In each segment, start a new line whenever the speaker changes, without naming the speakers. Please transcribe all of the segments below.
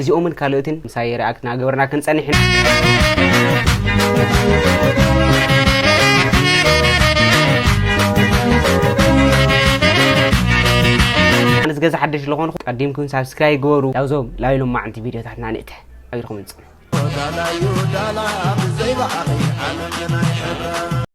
እዚኦምን ካልኦትን
ምሳይ ሪኣክት ናገበርና ክንጸንሕ ነዚ ገዛ ሓደሽ ዝኾንኹ ቀዲምኩም ሳብስክራይ ግበሩ ላብዞም ላብ ኢሎም ማዓንቲ ቪድዮታትና ንእተ ኣቢልኩም ንፅኑ ዳላ ዩ ዳላ ብዘይ ባዕሪ ዓለም ናይ ሕብረ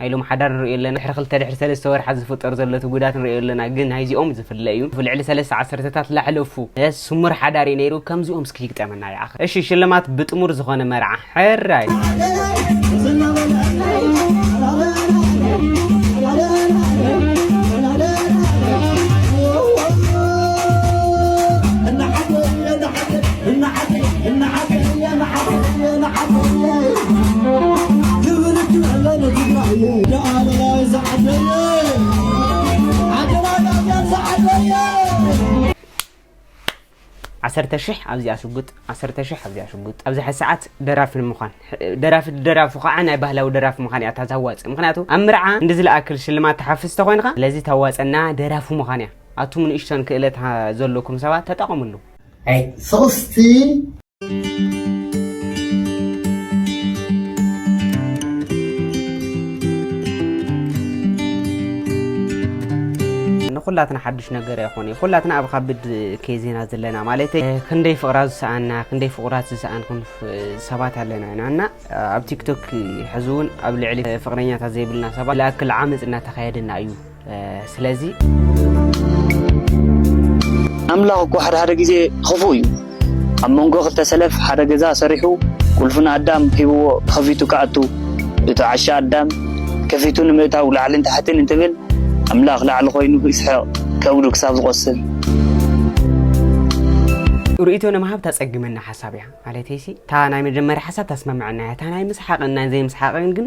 ናይ ሎሚ ሓዳር ንርእዮ ኣለና ድሕሪ ክልተ ድሕሪ ሰለስተ ወርሓት ዝፍጠር ዘሎ እቲ ጉዳት ንርእዮ ኣለና ግን ናይዚኦም ዝፍለ እዩ ልዕሊ ሰለስተ ዓሰርተታት ላሕለፉ ስሙር ሓዳር እዩ ነይሩ ከምዚኦም እስኪ ይግጠመና ይኣኸ እሺ ሽልማት ብጥሙር ዝኾነ መርዓ ሕራይ ዓሰርተ ሽሕ ኣብዚኣ ሽጉጥ ዓሰርተ ሽሕ ኣብዚኣ ሽጉጥ ኣብዚ ሓ ሰዓት ደራፊ ንምዃን ደራፊ ደራፉ ከዓ ናይ ባህላዊ ደራፊ ምዃን እያ እታ ታዋፅእ ምክንያቱ ኣብ ምርዓ እንዲ ዝለኣክል ሽልማት ተሓፍስ ተኮይንካ ስለዚ ታዋፀና ደራፊ ምዃን እያ ኣቱም ንእሽቶን ክእለት ዘለኩም ሰባት ተጠቐምሉ። ናይ
ሶስት
ኩላትና ሓዱሽ ነገር ኣይኮነ እዩ ኩላትና ኣብ ካብድ ኬዝ ኢና ዘለና ማለት ክንደይ ፍቕራ ዝሰኣና ክንደይ ፍቑራት ዝሰኣንኩም ሰባት ኣለና ኢና እና ኣብ ቲክቶክ ሕዚ እውን ኣብ ልዕሊ ፍቕረኛታት ዘይብልና ሰባት ዝኣክል ዓመፅ እናተካየደና እዩ ስለዚ
ኣምላኽ እኮ ሓደ ሓደ ግዜ ኽፉእ እዩ። ኣብ መንጎ ክልተ ሰለፍ ሓደ ገዛ ሰሪሑ ቁልፉ ንኣዳም ሂብዎ ከፊቱ ክኣቱ እቲ ዓሻ ኣዳም ከፊቱ ንምእታው ላዕልን ታሕትን እንትብል ኣምላኽ ላዕሊ ኮይኑ ይስሕቕ ከብዱ ክሳብ ዝቖስል
ርእይቶ ንምሃብ ተጸግመና ሓሳብ እያ ማለተይ ሲ እታ ናይ መጀመርያ ሓሳብ ተስማምዐና እያ እታ ናይ ምስሓቕን ናይ ዘይምስሓቕን ግን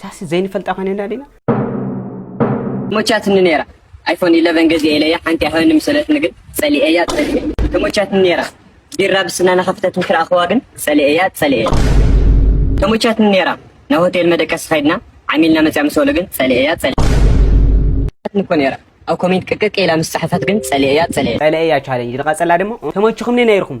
ሳሲ ዘይንፈልጣ ኮይነና ዲና
ተሞቻትኒ ነይራ ኣይፎን ኢለቨን ገዚኤ ኢለያ ሓንቲ ኣይሃበኒ ምሰለትኒ ግን ጸሊኤያ ጸሊኤ ተሞቻትኒ ነይራ ቢራ ብስና ናኸፍተት ምስ ረኣኽዋ ግን ጸሊኤያ ጸሊኤ ተሞቻትኒ ነይራ ናብ ሆቴል መደቀሲ ከይድና ዓሚልና መጽያ ምስ በሉ ግን ጸሊኤያ ጸሊኤ ተሞቻትኒ እኮ ነይራ ኣብ ኮሜንት ቅቅቅ ኢላ ምስ ጸሓፈት ግን ጸሊኤያ ጸሊኤ ጸሊኤያ ቻሌንጅ ንቐጸላ ደሞ
ተሞችኹምኒ ነይርኹም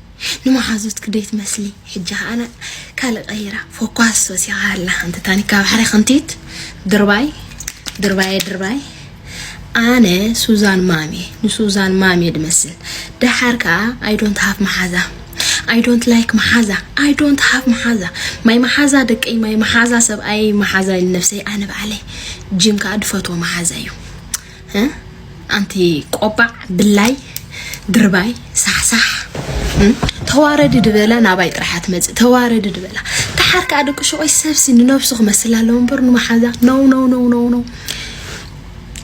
ንመሓዙትኪ ዶ ይትመስሊ ሕጂ ከኣ ካልእ ቀይራ ፎኳስ ወሲካ ኣላ ሓንቲ ታኒካ ባሕሪ ክንቲት ድርባይ ድርባየ ድርባይ ኣነ ሱዛን ማሜ ንሱዛን ማሜ ድመስል ደሓር ከኣ ኣይ ዶንት ሃፍ መሓዛ ኣይ ዶንት ላይክ መሓዛ ኣይ ዶንት ሃፍ መሓዛ ማይ መሓዛ ደቀይ ማይ መሓዛ ሰብኣየይ መሓዛ ኢሉ ነብሰይ ኣነ ባዕለይ ጂም ከኣ ድፈትዎ መሓዛ እዩ ኣንቲ ቆባዕ ብላይ ድርባይ ሳሕሳሕ ተዋረዲ ድበላ ናባይ ጥራሓ ትመፅእ ተዋረዲ ድበላ ተሓር ከዓ ደቂ ሸቆይ ሰብሲ ንነብሱ ክመስል ኣለዎ እምበር ንመሓዛ ነው ነው ነው ነው ነው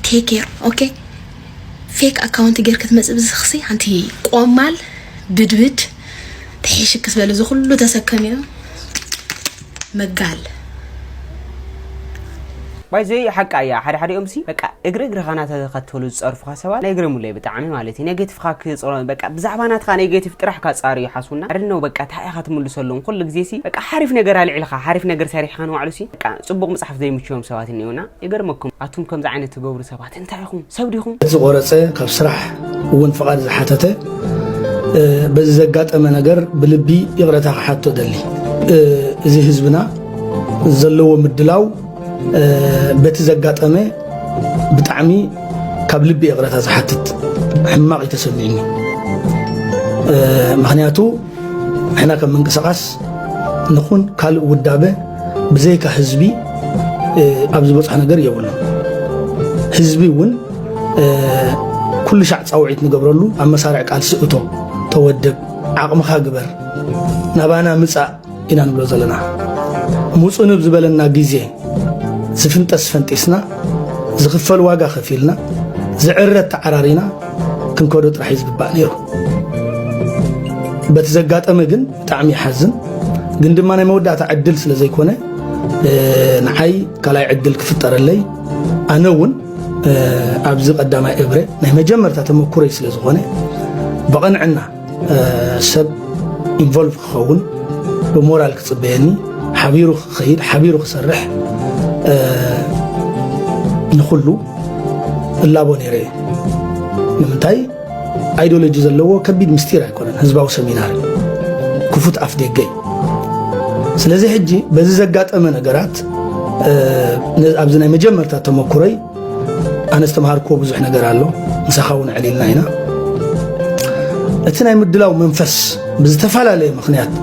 ቴኬር ኦኬ ፌክ ኣካውንት ጌር ክትመፅእ ብዝኽሲ ኣንቲ ቆማል ብድብድ ተሒሽክ ዝበለ ዝኩሉ ተሰከሚዮ መጋል።
ባይ ዘ ዌይ ሓቃ እያ ሓደ ሓዲኦም ሲ በቃ እግሪ እግርኻ ናተኸተሉ ዝጸርፉኻ ሰባት ናይ ግረሙለይ ብጣዕሚ ማለት እዩ ኔጌቲቭኻ ክጽሮ በቃ ብዛዕባ ናትኻ ኔጌቲቭ ጥራሕ ካጻሪ ይሓስቡና ኣድነው በቃ ታይ ኢኻ ትምልሰሎም ኩሉ ግዜ ሲ በቃ ሓሪፍ ነገር ኣልዒልኻ ሓሪፍ ነገር ሰሪሕኻ ንባዕሉ ሲ በቃ ጽቡቕ ምጽሓፍ ዘይምችዮም ሰባት እኒኦና ይገርመኩም ኣቱም ከምዚ ዓይነት ትገብሩ ሰባት ኣቲ እንታይ ኢኹም ሰብ ዲኹም? ዝቆረፀ ካብ
ስራሕ እውን ፍቓድ ዝሓተተ በዚ ዘጋጠመ ነገር ብልቢ ይቕረታ ክሓቶ ደሊ እዚ ህዝብና ዘለዎ ምድላው በቲ ዘጋጠመ ብጣዕሚ ካብ ልቢ ይቕረታ ዝሓትት ሕማቕ እዩ ተሰሚዕኒ ምክንያቱ ንሕና ከም ምንቅስቓስ ንኹን ካልእ ውዳበ ብዘይካ ህዝቢ ኣብ ዝበፅሖ ነገር የብሉን ህዝቢ እውን ኩሉ ሻዕ ፃውዒት ንገብረሉ ኣብ መሳርዕ ቃልሲ እቶ ተወደብ ዓቕምኻ ግበር ናባና ምፃእ ኢና ንብሎ ዘለና ሙፁንብ ዝበለና ግዜ ዝፍንጠስ ፈንጢስና ዝኽፈል ዋጋ ከፊልና ዝዕረት ተዓራሪና ክንከዶ ጥራሕ እዩ ዝግባእ ነይሩ በቲ ዘጋጠመ ግን ብጣዕሚ ይሓዝን ግን ድማ ናይ መወዳእታ ዕድል ስለ ዘይኮነ ንዓይ ካልኣይ ዕድል ክፍጠረለይ ኣነ እውን ኣብዚ ቀዳማይ እብረ ናይ መጀመርታ ተመኩረይ ስለ ዝኾነ ብቐንዕና ሰብ ኢንቮልቭ ክኸውን ብሞራል ክፅበየኒ ሓቢሩ ክኸይድ ሓቢሩ ክሰርሕ ንኹሉ እላቦ ነይረ እዩ ንምንታይ ኣይዶሎጂ ዘለዎ ከቢድ ምስጢር ኣይኮነን ህዝባዊ ሰሚናር ክፉት ኣፍ ደገ እዩ ስለዚ ሕጂ በዚ ዘጋጠመ ነገራት ኣብዚ ናይ መጀመርታ ተመኩረይ ኣነ ዝተምሃርክዎ ብዙሕ ነገር ኣሎ ምሳኻ እውን ዕሊልና ኢና እቲ ናይ ምድላው መንፈስ ብዝተፈላለየ ምክንያት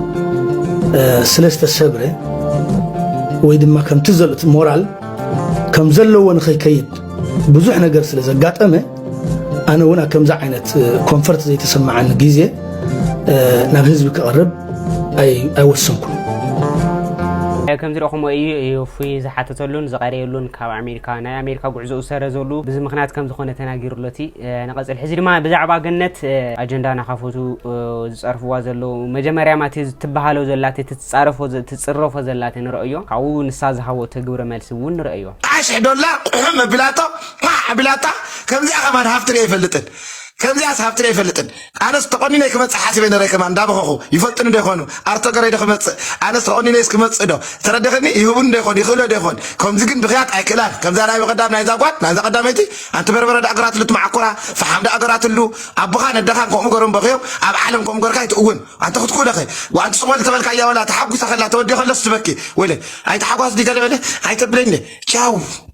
ስለ ዝተሰብረ ወይ ድማ ከምቲ ሞራል ከም ዘለዎ ንኸይከይድ ብዙሕ ነገር ስለ ዘጋጠመ ኣነ እውን ኣብ ከምዚ ዓይነት ኮንፈርት ዘይተሰማዓኒ ግዜ ናብ ህዝቢ ክቐርብ ኣይወሰንኩን
ከምዚ ረኹሞ እዩ እፉይ ዝሓተተሉን ዝቐረየሉን ካብ ኣሜሪካ ናይ ኣሜሪካ ጉዕዞኡ ዝሰረዘሉ ብዚ ምክንያት ከም ዝኾነ ተናጊሩሎ እቲ ንቐፅል ሕዚ ድማ ብዛዕባ ገነት ኣጀንዳ ናካፈቱ ዝፀርፍዋ ዘለዉ መጀመርያ ማቲ ትበሃሎ ዘላት ትፃረፎ ትፅረፎ ዘላት ንረእዮ ካብኡ ንሳ ዝሃቦ ተግብረ መልሲ እውን ንረእዮ ኣስሕዶላ
ቁሑ መብላቶ ፓዕ
ኣቢላታ
ከምዚኣ ከማን ሃፍቲ ሪኤ ኣይፈልጥን
ከምዚኣስ ሃፍቲ ሪኤ ኣይፈልጥን ኣነስ ተቆኒነይ ክመፅእ ሓሲበ ነረ ከማን እንዳበኸኹ ይፈልጡኒ ዶ ይኾኑ ኣርቶ ገረይ ዶ ክመፅእ ኣነስ ተቆኒነይስ ክመፅእ ዶ ተረዲኽኒ ይህቡኒ ዶ ይኾኑ ይኽእሎ ዶ ይኾን ከምዚ ግን ብኽያት ኣይክእላን ከምዛ ናይ በቐዳም ናይዛ ጓል ናይዛ ቀዳመይቲ ኣንቲ በርበረ ዳኣ ገራትሉ ትመዓኮራ ፈሓም ዳኣ ገራትሉ ኣቦኻን ኣደኻን ከምኡ ገሮም በኽዮም ኣብ ዓለም ከምኡ ገርካ ኣይትእውን ኣንቲ ክትኩእለኸ ኣንቲ ስቕ በል ተበልካያ ወላ ተሓጉሰ ከላ ተወዲኦ ከለስ ትበኪ ወይለ ኣይተሓጓስ ዲ ገለ በለ ኣይተብለኒ ቻው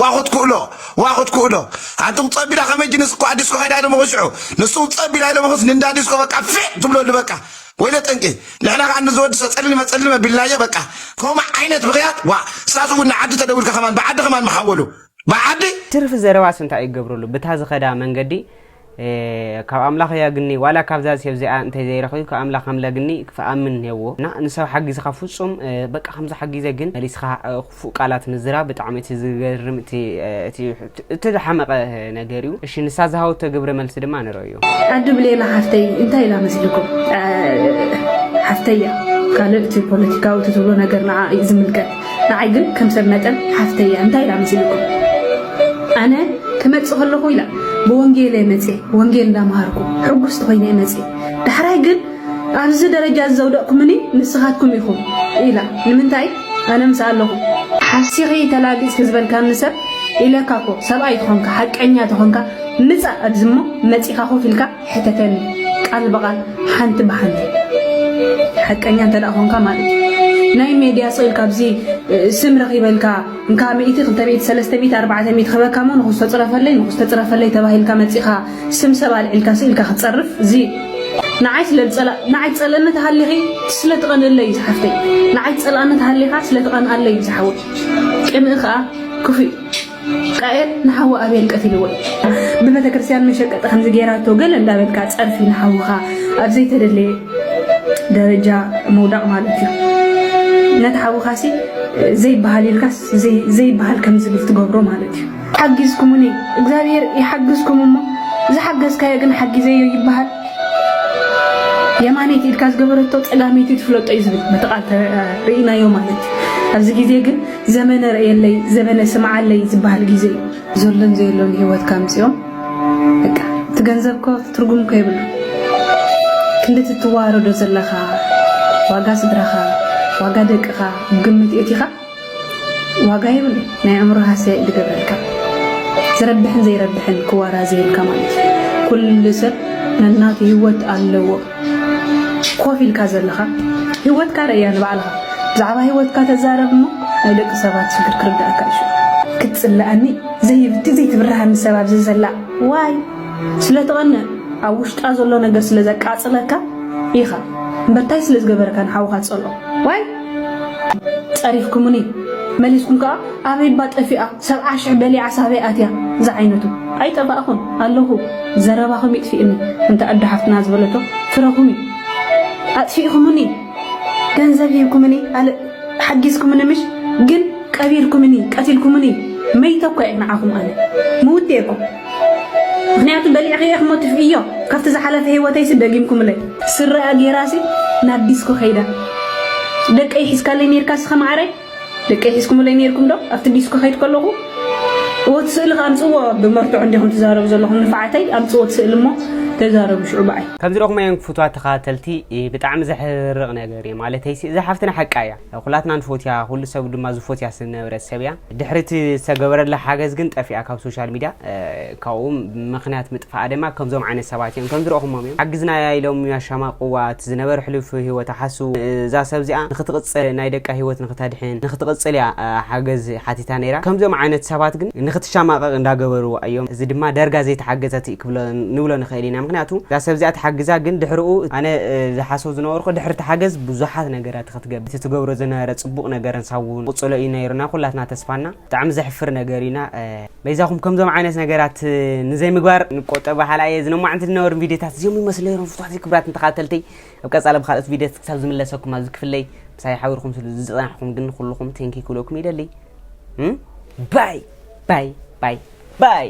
ዋ ክትክእሎ ዋ ክትክእሎ ኣንቱም ጸቢላ ከመይ ጅንስ እኳ ዲስኮ ከይዳ ኢሎምኹ ሽዑ ንሱውን ጸቢላ ኢሎምኹስ ንእንዳ ዲስኮ በቃ ፌእ ትብለሉ በቃ ወይለ ጠንቂ ንሕና ከኣ ንዝወዲ ሰጸልልመ ጸልልመ ቢልናዮ በቃ ከምኡ ዓይነት ብኽያት ዋእ እሳቱ እውን ንዓዲ ተደዊልካ ከማን ብዓዲ ከማን ምሓወሉ ብዓዲ ትርፊ ዘረባስ
እንታይ እዩ ክገብረሉ ብታ ዝኸዳ መንገዲ ካብ ኣምላኽ ያግኒ ዋላ ካብዛ ሰብ እዚኣ እንተ ዘይረኺቡ ካብ ኣምላኽ ከም ለግኒ ክኣምን ነዎ እና ንሰብ ሓጊዝኻ ፍጹም በቃ ከምዚ ሓጊዘ ግን መሊስኻ ክፉእ ቃላት ምዝራ ብጣዕሚ እቲ ዝገርም እቲ ዝሓመቐ ነገር እዩ። እሺ ንሳ ዝሃወቶ ግብረ መልሲ ድማ ንርእዮ። ኣዲ ብሌና ሓፍተይ
እንታይ ኢላ መስልኩም ሓፍተያ ካልእ እቲ ፖለቲካዊ ትብሎ ነገር ንዓ እዩ ዝምልከት ንዓይ ግን ከም ሰብ መጠን ሓፍተይ እያ እንታይ ኢላ መሲልኩም ኣነ ክመጽእ ከለኹ ኢላ ብወንጌል እየ መጽየ ወንጌል እንዳምሃርኩ ሕጉስቲ ኮይነ እየ መጽየ ዳሕራይ ግን ኣብዚ ደረጃ ዘውደቕኩምኒ ንስኻትኩም ኢኹም ኢላ ንምንታይ ኣነ ምስ ኣለኹ ሓሲኺ ተላጊጽኪ ዝበልካኒ ሰብ ኢለካ እኮ ሰብኣይ ተኾንካ ሓቀኛ ተኾንካ ምጻእ ኣብዚ እሞ መጺኻ ኮፍ ኢልካ ሕተተኒ ቃል ብቓል ሓንቲ ብሓንቲ ሓቀኛ እንተ ኮንካ ማለት እዩ ናይ ሜድያ ስቕ ኢልካ ኣብዚ ስም ረኺበ ኢልካ እንካ ሚእቲ ክልተ ሚእቲ ሰለስተ ሚእቲ ኣርባዕተ ሚእቲ ክህበካ እሞ ንኹስ ተፅረፈለይ ንኹስ ተፅረፈለይ ተባሂልካ መፂኻ ስም ሰብ ኣልዒልካ ስእ ኢልካ ክትፀርፍ እዚ ንዓይ ስለ ንዓይ ትፀልእኒ ተሃሊኺ ስለ ትቐንእለይ ዝሓፍተይ ንዓይ ትፀልኣኒ ተሃሊኻ ስለ ትቐንኣለይ ዝሓወይ ቅንኢ ከዓ ክፉእ ቃኤል ንሓዉ ኣቤል ቀቲልዎ እዩ ብቤተክርስትያን መሸቀጢ ከምዚ ጌራቶ ገለ እንዳበልካ ጸርፊ ንሓዉኻ ኣብ ዘይተደለየ ደረጃ ምውዳቕ ማለት እዩ ነቲ ሓዉኻሲ ዘይበሃል ኢልካስ ዘይበሃል ከም ዝብል ትገብሮ ማለት እዩ ሓጊዝኩሙኒ እግዚኣብሔር ይሓግዝኩም እሞ ዝሓገዝካዮ ግን ሓጊዘዮ ይበሃል የማነይቲ ኢድካ ዝገበረቶ ፀጋመይቲ ትፍለጦ እዩ ዝብል በቲ ቃል ርኢናዮ ማለት እዩ ኣብዚ ግዜ ግን ዘመነ ርእየለይ ዘበነ ስምዓለይ ዝበሃል ግዜ እዩ። ዘሎን ዘየሎን ሂወትካ ኣምጺኦም በቃ እቲ ገንዘብ እኮ ትርጉም እኮ የብሉን። ክንዲ እቲ እትወሃረዶ ዘለኻ ዋጋ ስድራኻ ዋጋ ደቅኻ ኣብ ግምት የእቲኻ ዋጋ የብሉን ናይ ኣእምሮ ሃሰያ እዩ ዝገብረልካ ዝረብሕን ዘይረብሕን ክወራዘየልካ ማለት እዩ። ኩሉ ሰብ ነናቱ ሂወት ኣለዎ። ኮፍ ኢልካ ዘለኻ ሂወትካ ረእያ ንባዕልኻ ብዛዕባ ሂወትካ ተዛረብ እሞ ናይ ደቂ ሰባት ሽግር ክርደኣካ እዩ ሽዑ። ክትጽለኣኒ ዘይብቲ ዘይትብርሃኒ ሰብ ኣብዚ ዘላ ዋይ ስለ ትቐንእ ኣብ ውሽጣ ዘሎ ነገር ስለ ዘቃጽለካ ኢኻ እምበር ታይ ስለ ዝገበረካ ንሓውኻ ትጸልኦ ዋይ ጸሪፍኩሙኒ መሊስኩም ከኣ ኣበይባ ጠፊኣ ሰብዓ ሽሕ በሊዓ ሳበይ ኣትያ ዝዓይነቱ። ኣይጠፋእኹን ኣለኹ ዘረባኹም ይጥፊእኒ እንተ ኣዱ ሓፍትና ዝበለቶ ፍረኹም እዩ ኣጥፊእኹሙኒ ገንዘብ ሂብኩምኒ ኣል ሓጊዝኩምኒ ምሽ ግን ቀቢርኩምኒ ቀቲልኩምኒ መይተ እኮ እየ ንዓኹም ኣነ ምውት እየ እኮ ምክንያቱ በሊዕኺ ኢኽሞ ትፍእዮ ካብቲ ዝሓለፈ ሂወተይሲ ደጊምኩምለይ ስረኣ ጌራሲ ናብ ዲስኮ ከይዳ ደቀይ ሒዝካለይ ኔርካሲ ከመዓረይ ደቀይ ሒዝኩምለይ ኔርኩም ዶ ኣብቲ ዲስኮ ክከይድ ከለኩ እወ እቲ ስእሊ ከኣ ኣምጽእዎ ብመርትዖ እንዲኩም ትዛረቡ ዘለኩም ንፍዓተይ ኣምጽእዎ እቲ ስእሊ እሞ ተዛረቡ ሽዑ ብኣይ። ከምዚ ረኹመየን ክፉትዋት
ተኸታተልቲ ብጣዕሚ ዘሕርቅ ነገር እየ ማለተይሲ እዛ ሓፍትና ሓቃ እያ ኩላትና ንፎትያ ኩሉ ሰብ ድማ ዝፎትያ ዝነበረት ሰብ እያ ድሕሪ እቲ ዝተገበረላ ሓገዝ ግን ጠፊኣ ካብ ሶሻል ሚድያ ካብኡ ምኽንያት ምጥፍኣ ደማ ከምዞም ዓይነት ሰባት ኢዮም። ከምዚ ረእኹሞም ኢዮም። ሓግዝናያ ኢሎም ያሻማቅዋ፣ እቲ ዝነበረ ሕሉፍ ሂወታ ሓስው። እዛ ሰብ እዚኣ ንኽትቕጽል ናይ ደቃ ሂወት ንኽተድሕን ንኽትቕጽል ኢያ ሓገዝ ሓቲታ ነይራ። ከምዚኦም ዓይነት ሰባት ግን ንኽትሻማቀቅ እንዳገበርዋ ኢዮም። እዚ ድማ ዳርጋ ዘይተሓገዘት ኢዩ ክብሎ ንብሎ ንኽእል ኢና። ምኽንያቱ እዛ ሰብ እዚኣ ተሓግዛ ግን ድሕርኡ ኣነ ዝሓስቦ ዝነበርኩ ድሕሪ ተሓገዝ ብዙሓት ነገራት ኢኻ ትገብር። እቲ ትገብሮ ዝነበረ ጽቡቅ ነገርን ሳውን ክቕጽሎ ኢዩ ነይሩ እና ኩላትና ተስፋና። ብጣዕሚ ዘሕፍር ነገር እዩ እና በይዛኹም ከምዞም ዓይነት ነገራት ንዘይምግባር ንቆጠብ በሃላ እየ ዝነማዕንቲ ዝነበሩ ቪድዮታት እዚኦም ይመስሉ ነይሮም ፍትዋት ክብራትን ተኸታተልተይ ኣብ ቀፃሊ ብካልኦት ቪድዮት ክሳብ ዝምለሰኩም ኣብዚ ክፍለይ ምሳይ ሓቢርኩም ስሉ ዝፀናሕኩም ግን ኩልኹም ቴንኪ ክብለኩም ይደሊ ባይ ባይ ባይ ባይ